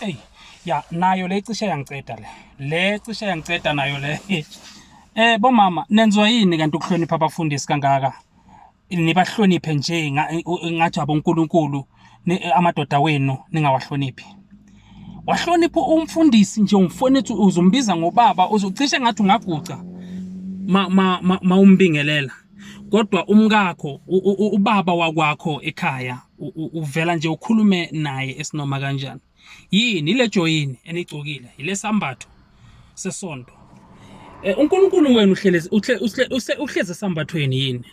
eyi ya nayo le cishe yangiceda le le cishe yangiceda nayo le eh bomama nenziwa yini kanti ukuhlonipha abafundisi kangaka nibahloniphe nje ngathi abonkulunkulu eh, amadoda wenu ningawahloniphi wahlonipha umfundisi nje umfowethu uzombiza ngobaba uzocishe ngathi ungaguca ma ma, ma, ma umbingelela kodwa umkakho ubaba wakwakho ekhaya uvela nje ukhulume naye esinoma kanjani yini ile joyini enigcokile ile sambatho sesonto eh, uNkulunkulu wenu uhlelezi uhleze sambathweni yini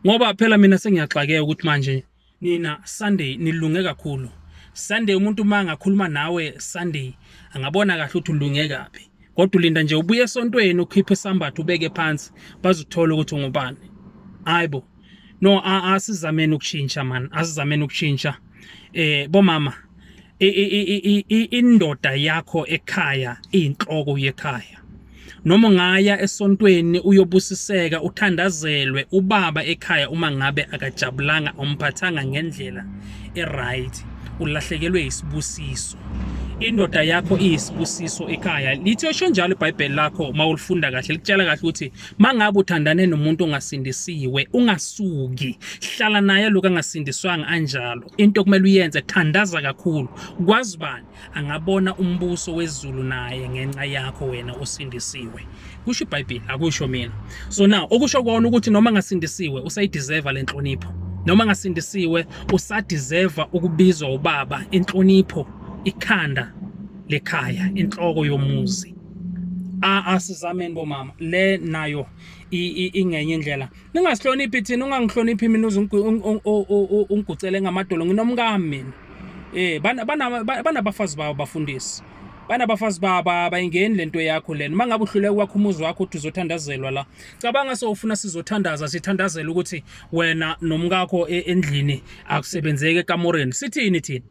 ngoba phela mina sengiyaxakeka ukuthi manje Nina Sunday nilunge kakhulu. Sunday umuntu uma angakhuluma nawe Sunday angabona kahle ukuthi ulunge kabi. Kodwa ulinda nje ubuye esontweni ukhiphe isambatho ubeke phansi bazuthola ukuthi ungubani. Hayibo. No asizameni ukushintsha man, asizameni ukushintsha. Eh bomama indoda yakho ekhaya inhloko yekhaya noma ngaya esontweni uyobusiseka uthandazelwe ubaba ekhaya uma ngabe akajabulanga umphathanga ngendlela eright ulahlekelwe isibusiso indoda yakho iyisibusiso ekhaya lithi osho njalo ibhayibheli lakho uma ulifunda kahle likutshela kahle ukuthi mangabe uthandane nomuntu ongasindisiwe ungasuki hlala naye lokho angasindiswanga anjalo into okumele uyenze thandaza kakhulu kwazi bani angabona umbuso wezulu naye ngenxa yakho wena osindisiwe kusho ibhayibheli akusho mina so now okusho kona ukuthi noma ngasindisiwe usayideserve le nhlonipho noma ngasindisiwe usadeserve ukubizwa ubaba inhlonipho ikhanda lekhaya inhloko yomuzi a asizameni bomama le nayo ingenye indlela ningasihloniphi thina ungangihloniphi mina uze ungigucele ngamadolo nginomkami mina eh banabafazi babo bafundisi banabafazi baba bayingeni lento yakho lena uma ngabe uhluleka kwakho umuzi wakho uthi uzothandazelwa la cabanga sowufuna sizothandaza sithandazela ukuthi wena nomkakho e-, endlini akusebenzeki ekamoreni sithini thina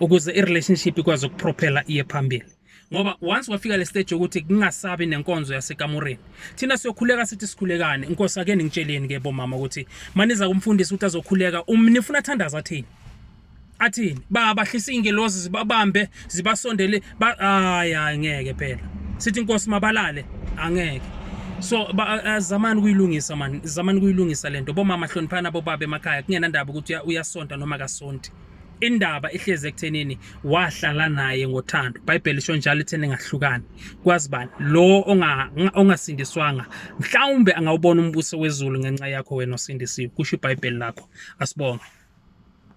ukuze i-relationship ikwazi ukuprophela iye phambili ngoba once wafika le stage yokuthi kungasabi nenkonzo yasekamureni thina siyokhuleka sithi sikhulekane inkosi ake ningitsheleni ke bomama ukuthi maniza kumfundisi ukuthi azokhuleka um nifuna athandaza athini athini babahlisa ingelozi zibabambe zibasondele hayi hayi ngeke phela sithi inkosi mabalale angeke so zamani kuyilungisa mani zamani kuyilungisa lento bomama hloniphana bobaba emakhaya kungenandaba ukuthi uyasonta noma kasonti indaba ihlezi ekuthenini wahlala naye ngothando bhayibheli isho njalo itheni ngahlukani kwazi bani lo ongasindiswanga mhlawumbe angawubona umbuso wezulu ngenxa yakho wena osindisiwe kusho ibhayibheli lakho asibonge